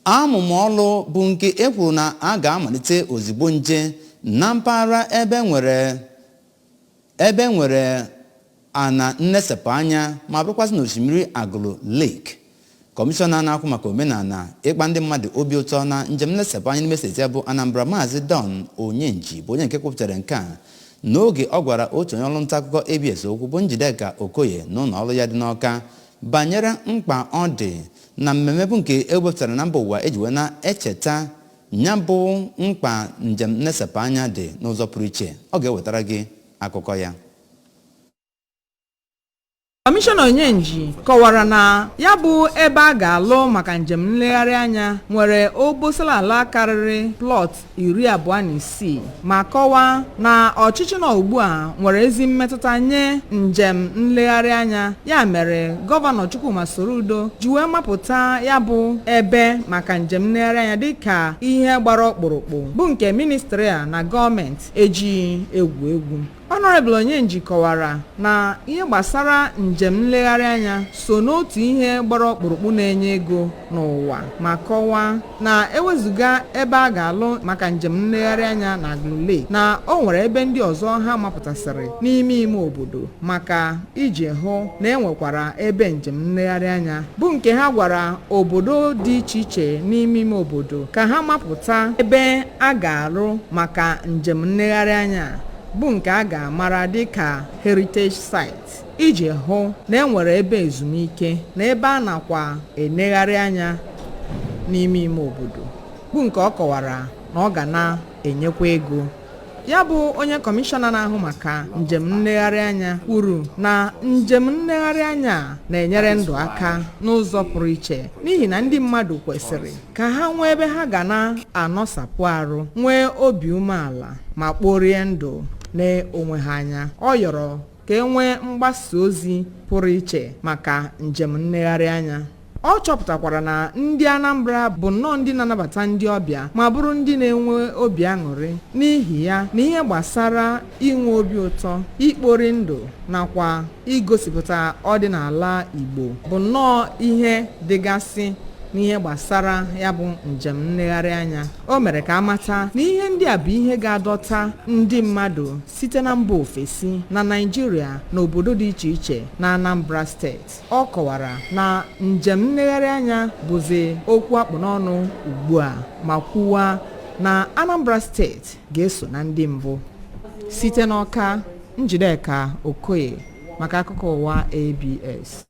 amụma ọlụ bụ nke e kwuru na a ga-amalite ozigbo nje na mpaghara ebe nwere ana nnesepụ anya ma bụrụkwasị n'osimiri agụlụ lake kọmishọna na-ahụ maka omenala ịkpa ndị mmadụ obi ụtọ na njem nlesepụ anya n'ime steeti ya bụ anambra maazị don onyenji bụ onye nke kwupụtara nke a n'oge ọ gwara otu onye ọrụ nta akụkọ abs okwu bụ njideka okoye n'ụlọ ọrụ ya dị n'ọka banyere mkpa ọ dị na mmemme bụ nke e wepụtara na mba ụwa e ji wee na-echeta ya bụ mkpa njem nnesepụ anya dị n'ụzọ pụrụ iche ọ ga-ewetara gị akụkọ ya kọmishọna onyenji kọwara na ya bụ ebe a ga-alụ maka njem nlegharị anya nwere obosala ala karịrị plọt iri abụọ na isii ma kọwaa na ọchịchị nọ ugbu a nwere ezi mmetụta nye njem nlegharị anya ya mere gọvanọ Chukwuma Soludo ji wee mapụta ya bụ ebe maka njem nlegharị anya dịka ihe gbara ọkpụrụkpụ bụ nke ministri a na gọọmenti ejighị egwu egwu Honorable Onyenji kọwara na ihe gbasara njem nlegharị anya so n'otu ihe gbara ọkpụrụkpụ na-enye ego n'ụwa ma kọwaa na ewezuga ebe a ga-alụ maka njem nlegharị anya na Agụlụ Lake na o nwere ebe ndị ọzọ ha mapụtasịrị n'ime ime obodo maka iji hụ na e nwekwara ebe njem nlegharị anya bụ nke ha gwara obodo dị iche iche n'ime ime obodo ka ha mapụta ebe a ga-alụ maka njem nlegharị anya a. bụ nke a ga-amara dị ka heritage site iji hụ na e nwere ebe ezumike na ebe a nakwa enegharị anya n'ime ime obodo bụ nke ọ kọwara na ọ ga na-enyekwa ego ya bụ onye kọmishọna na-ahụ maka njem nlegharị anya kwuru na njem nlegharị anya a na-enyere ndụ aka n'ụzọ pụrụ iche n'ihi na ndị mmadụ kwesịrị ka ha nwee ebe ha ga na-anọ sapụ arụ nwee obi umeala ma kporie ndụ n'onwe ha anya ọ yọrọ ka e nwee mgbasa ozi pụrụ iche maka njem nlegharị anya ọ chọpụtakwara na ndị anambra bụ nnọọ ndị na-anabata ndị ọbịa ma bụrụ ndị na-enwe obi aṅụrị n'ihi ya na ihe gbasara inwe obi ụtọ ikpori ndụ nakwa igosipụta ọdịnala igbo bụ nnọọ ihe dịgasị n'ihe gbasara ya bụ njem nlegharị anya o mere ka a mata na ihe ndị a bụ ihe ga-adọta ndị mmadụ site na mba ofesi na naịjirịa na obodo dị iche iche na anambra steeti ọ kọwara na njem nlegharị anya bụzi okwu a kpụ n'ọnụ ugbu a ma kwuwa na anambra steeti ga-eso na ndị mbụ site n'ọka njideka okoye maka akụkọ ụwa abs